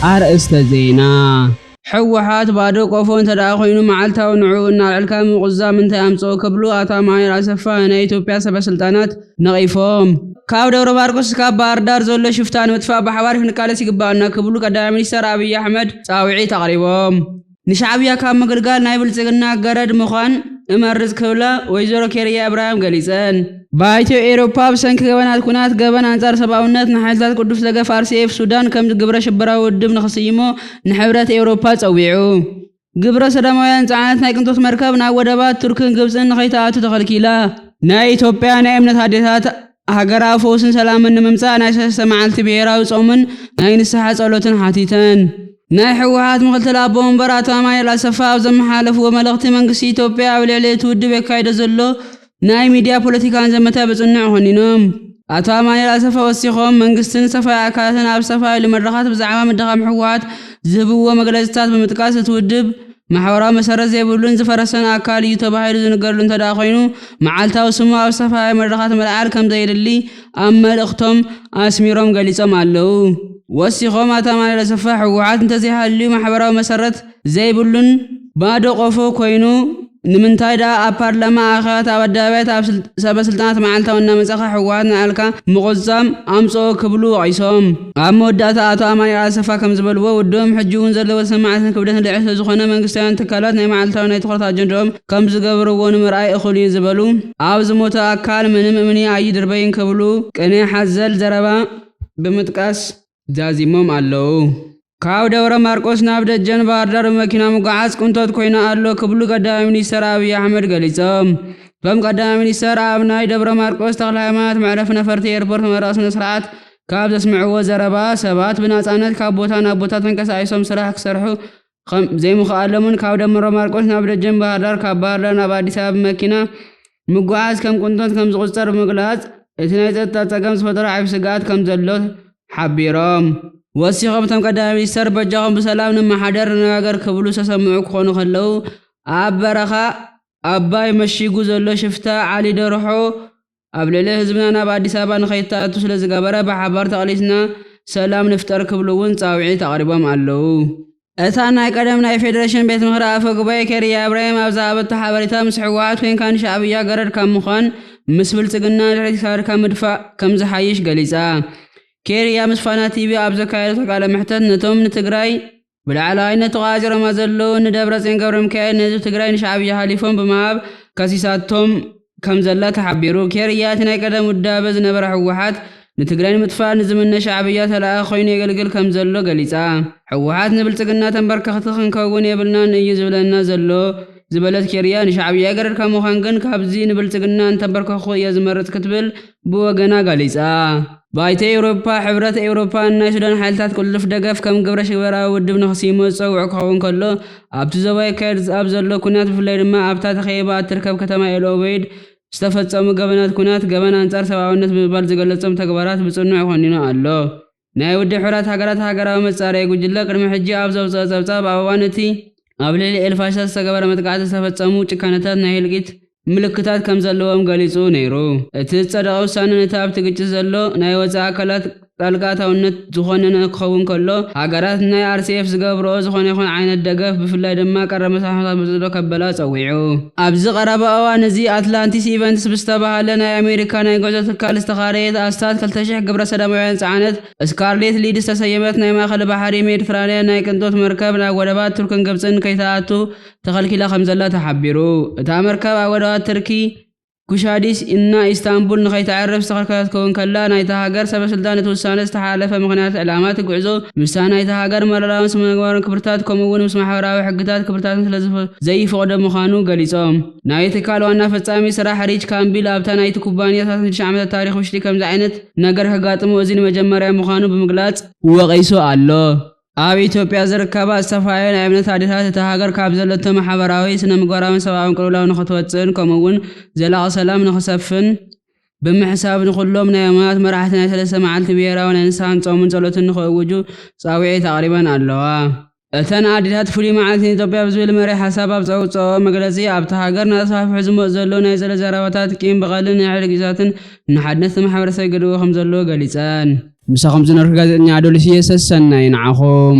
ኣርእስተ ዜና፣ ሕወሓት ባዶ ቆፎ እንተድኣ ኮይኑ መዓልታዊ ንዕኡ እናልዐልካ ምቑዛም እንታይ ኣምፀኦ ክብሉ ኣቶ ኣማኑኤል ኣሰፋ ናይ ኢትዮጵያ ሰበስልጣናት ነቒፎም። ካብ ደብረማርቆስ እስካብ ባህርዳር ዘሎ ሽፍታ ንምጥፋእ ብሓባር ክንቃለስ ይግበኣና ክብሉ ቀዳማይ ሚኒስተር ኣብይ ኣሕመድ ፃውዒት ኣቕሪቦም። ንሻዕብያ ካብ ምግልጋል ናይ ብልፅግና ገረድ ምዃን እመርፅ ክብላ ወይዘሮ ኬርያ እብራሂም ገሊፀን። ባይቶ ኤውሮፓ ብሰንኪ ገበናት ኲናት ገበን ኣንፃር ሰብኣውነት ንሓይልታት ቅዱስ ደገፍ RCF ሱዳን ከም ግብረ ሽበራዊ ውድብ ንኽስይሞ ንሕብረት ኤውሮፓ ፀዊዑ። ግብረ ሰዶማውያን ዝፀዓነት ናይ ቅንጦት መርከብ ናብ ወደባት ቱርክን ግብፅን ንኸይትኣቱ ተኸልኪላ። ናይ ኢትዮጵያ ናይ እምነት ኣዴታት ሃገራዊ ፈውስን ሰላምን ንምምፃእ ናይ ሰለስተ መዓልቲ ብሄራዊ ፆምን ናይ ንስሓ ፀሎትን ሓቲተን። ናይ ህወሓት ምክትል ኣቦ ወንበር ኣቶ ኣማኒኤል ኣሰፋ ኣብ ዘመሓላለፍዎ መልእኽቲ መንግስቲ ኢትዮጵያ ኣብ ልዕሊ እቲ ውድብ የካይዶ ዘሎ ናይ ሚድያ ፖለቲካን ዘመተ ብፅኑዕ ኮኒኖም። ኣቶ ኣማኒኤል ኣሰፋ ወሲኾም መንግስትን ዝተፈላለዩ ኣካላትን ኣብ ዝተፈላለዩ መድረኻት ብዛዕባ ምድኻም ህወሓት ዝህብዎ መግለፅታት ብምጥቃስ እቲ ውድብ ማሕበራዊ መሰረት ዘይብሉን ዝፈረሰን ኣካል እዩ ተባሂሉ ዝንገረሉ እንተድኣ ኮይኑ መዓልታዊ ስሙ ኣብ ዝተፈላለዩ መድረኻት ምልዓል ከምዘየድሊ ኣብ መልእኽቶም ኣስሚሮም ገሊፆም ኣለው። ወሲኾም ኣቶ ኣማኑኤል ኣሰፋ ህወሓት እንተዘይሃልዩ ማሕበራዊ መሰረት ዘይብሉን ባዶ ቆፎ ኮይኑ ንምንታይ ድኣ ኣብ ፓርላማ ኣኼባት ኣብ ኣደባባያት ኣብ ሰበስልጣናት መዓልታዊ እናመፃእኻ ህወሓት ንኣልካ ምቑዝፃም ኣምፀኦ ክብሉ ወቒሶም። ኣብ መወዳእታ ኣቶ ኣማኒኤል ኣሰፋ ከምዝበልዎ፣ ውድቦም ሕጂ እውን ዘለዎ ተሰማዕነትን ክብደትን ልዕል ስለዝኾነ መንግስታውያን ትካላት ናይ መዓልታዊ ናይ ትኹረት ኣጀንድኦም ከምዝገብርዎ ንምርኣይ እኹል እዩ ዝበሉ ኣብ ዝሞተ ኣካል ምንም እምኒ ኣይድርበይን ክብሉ ቅኔ ሓዘል ዘረባ ብምጥቃስ ዛዚሞም ኣለው። ካብ ደብረ ማርቆስ ናብ ደጀን ባህርዳር ብመኪና ምጉዓዝ ቅንጦት ኮይኑ ኣሎ ክብሉ ቀዳማይ ሚኒስተር ኣብይ ኣሕመድ ገሊፆም። እቶም ቀዳማይ ሚኒስተር ኣብ ናይ ደብረማርቆስ ተክለሃይማኖት መዕረፊ ነፈርቲ ኤርፖርት መመረቂ ስነስርዓት ካብ ዘስምዕዎ ዘረባ ሰባት ብናፃነት ካብ ቦታ ናብ ቦታ ተንቀሳቂሶም ስራሕ ክሰርሑ ከም ዘይምኽኣሎምን ካብ ደብረ ማርቆስ ናብ ደጀን ባህርዳር ካብ ባህርዳር ናብ ኣዲስ ኣበባ ብመኪና ምጉዓዝ ከም ቅንጦት ከም ዝቑፀር ብምግላፅ እቲ ናይ ፀጥታ ፀገም ዝፈጠሮ ዓብዪ ስግኣት ከም ዘሎ ሓቢሮም። ወሲኾም እቶም ቀዳማይ ሚኒስትር በጃኹም ብሰላም ንመሓደር ንነጋገር ክብሉ ዝተሰምዑ ክኾኑ ከለው ኣብ በረኻ ኣባይ መሺጉ ዘሎ ሽፍታ ዓሊ ደርሖ ኣብ ልዕሊ ህዝብና ናብ ኣዲስ ኣበባ ንኸይተኣቱ ስለዝገበረ ብሓባር ተቓሊስና ሰላም ንፍጠር ክብሉ እውን ፃውዒት ኣቕሪቦም ኣለው። እታ ናይ ቀደም ናይ ፌደሬሽን ቤት ምኽሪ ኣፈ ጉባኤ ኬርያ ኢብራሂም ኣብ ዝሃበቶ ሓበሬታ ምስ ህወሓት ኮይንካ ንሻዕብያ ገረድ ካብ ምዃን ምስ ብልፅግና ንድሕሪት ክሳድካ ምድፋእ ከምዝሓይሽ ገሊፃ። ኬርያ ምስ ፋና ቲቪ ኣብ ዘካየደቶ ቃለ መሕተት ነቶም ንትግራይ ብላዕለዋይነት ተቆፃፂሮማ ዘለዉ እኒ ደብረፅዮን ገብረሚካኤል ንህዝቢ ትግራይ ንሻዕብያ ሓሊፎም ብምሃብ ከሲሳቶም ከምዘላ ተሓቢሩ። ኬርያ እቲ ናይ ቀደም ውዳበ ዝነበራ ህወሓት ንትግራይ ንምጥፋእ ንዝምነ ሻዕብያ ተላኣኺ ኮይኑ የገልግል ከምዘሎ ገሊፃ። ህወሓት ንብልፅግና ተምበርከኽቲ ክንከውን የብልናን እዩ ዝብለና ዘሎ ዝበለት ኬርያ ንሻዕብያ ገረድካ ምዃን ግን ካብዚ ንብልፅግና እንተምበርከኽኹ እየ ዝመርፅ ክትብል ብወገና ገሊጻ። ባይቶ ኤውሮጳ፣ ሕብረት ኤውሮጳ ንናይ ሱዳን ሓይልታት ቅልጡፍ ደገፍ ከም ግብረሽበራዊ ውድብ ንኽስይሞ ዝጸውዖ ክኸውን ከሎ፣ ኣብቲ ዞባ ይካየድ ኣብ ዘሎ ኲናት ብፍላይ ድማ ኣብታ ተኸቢባ እትርከብ ከተማ ኤል ኦበይድ ዝተፈጸሙ ገበናት ኲናት ገበን ኣንጻር ሰብኣውነት ብምባል ዝገለጾም ተግባራት ብጽኑዕ ኮኒኑ ኣሎ። ናይ ውድብ ሕቡራት ሃገራት ሃገራዊ መጻረዪ ጉጅለ ቅድሚ ሕጂ ኣብ ዘውጽኦ ጸብጻብ ኣብ እዋን እቲ ኣብ ልዕሊ ኤል-ፋሽር ዝተገበረ መጥቃዕቲ ዝተፈጸሙ ጭካነታት ናይ ህልቂት ምልክታት ከምዘለዎም ገሊጹ ነይሩ። እቲ ዝጸደቐ ውሳነ ነቲ ኣብቲ ግጭት ዘሎ ናይ ወጻኢ ኣካላት ጣልቃ ኣታውነት ዝኾነነ ክኸውን ከሎ ሃገራት ንናይ RCF ዝገብርኦ ዝኾነ ይኹን ዓይነት ደገፍ ብፍላይ ድማ ቀረብ መስርሕ ንኸበዝሕኦ ከበላ ጸዊዑ። ኣብዚ ቀረባ እዋን እዚ ኣትላንቲስ ኢቨንትስ ብዝተባህለ ናይ ኣሜሪካ ናይ ጉዕዞ ትካል ዝተኻረየት ኣስታት ክልተ ሽሕ ግብረሰዶማውያን ዝጸዓነት ስካርሌት ሊድ ዝተሰየመት ናይ ማእከል ባሕሪ ሜድትራንያን ናይ ቅንጦት መርከብ ናብ ወደባት ቱርክን ግብጽን ከይትኣቱ ተኸልኪላ ከምዘላ ተሓቢሩ። እታ መርከብ ኣብ ወደባት ትርኪ ኩሻዲስ እና ኢስታንቡል ንኸይተዕርፍ ዝተኸልከለት ክትከውን ከላ፣ ናይታ ሃገር ሰበስልጣን እቲ ውሳነ ዝተሓላለፈ ምኽንያት ዕላማ እቲ ጉዕዞ ምስታ ናይታ ሃገር መረራውን ስነምግባራውን ክብርታት ከምኡ'ውን ምስ ማሕበራዊ ሕግታትን ክብርታትን ስለዘይፍቕዶ ምዃኑ ገሊጾም። ናይቲ ትካል ዋና ፈጻሚ ስራሕ ሪች ካምቢል ኣብታ ናይቲ ኩባንያ ሰላሳ ሽዱሽተ ዓመታት ታሪኽ ውሽጢ ከምዚ ዓይነት ነገር ከጋጥሞ እዚ ንመጀመርያ ምዃኑ ብምግላጽ ወቒሱ ኣሎ። ኣብ ኢትዮጵያ ዝርከባ ዝተፈላለያ ናይ እምነት ኣዴታት እታ ሃገር ካብ ዘለቶ ማሕበራዊ፣ ስነ-ምግባራዊን ሰብኣዊን ቅልውላው ንኽትወጽእን ከምኡ'ውን ዘላቒ ሰላም ንኽሰፍን ብምሕሳብ ንኹሎም ናይ ኣማናት መራሕቲ ናይ ሰለስተ መዓልቲ ብሄራዊ ናይ ንስሓን ጾምን ጸሎትን ንኽእውጁ ጻውዒት ኣቕሪበን ኣለዋ። እተን ኣዴታት ፍሉይ መዓልቲ ንኢትዮጵያ ብዝብል መሪሕ ሓሳብ ኣብ ዘውጽኣኦ መግለጺ፣ ኣብታ ሃገር እናተስፋሕፍሑ ዝመጹ ዘለዉ ናይ ጸሎት ዛረባታት፣ ቂም በቐልን ንሕርጊታትን ንሓድነት እቲ ማሕበረሰብ ይገድቦ ከምዘሎ ገሊፀን። ምሳኹም ዝነበርኩ ጋዜጠኛ ኣዶሊስ ኢየ ሰሰናዩ ንዓኹም።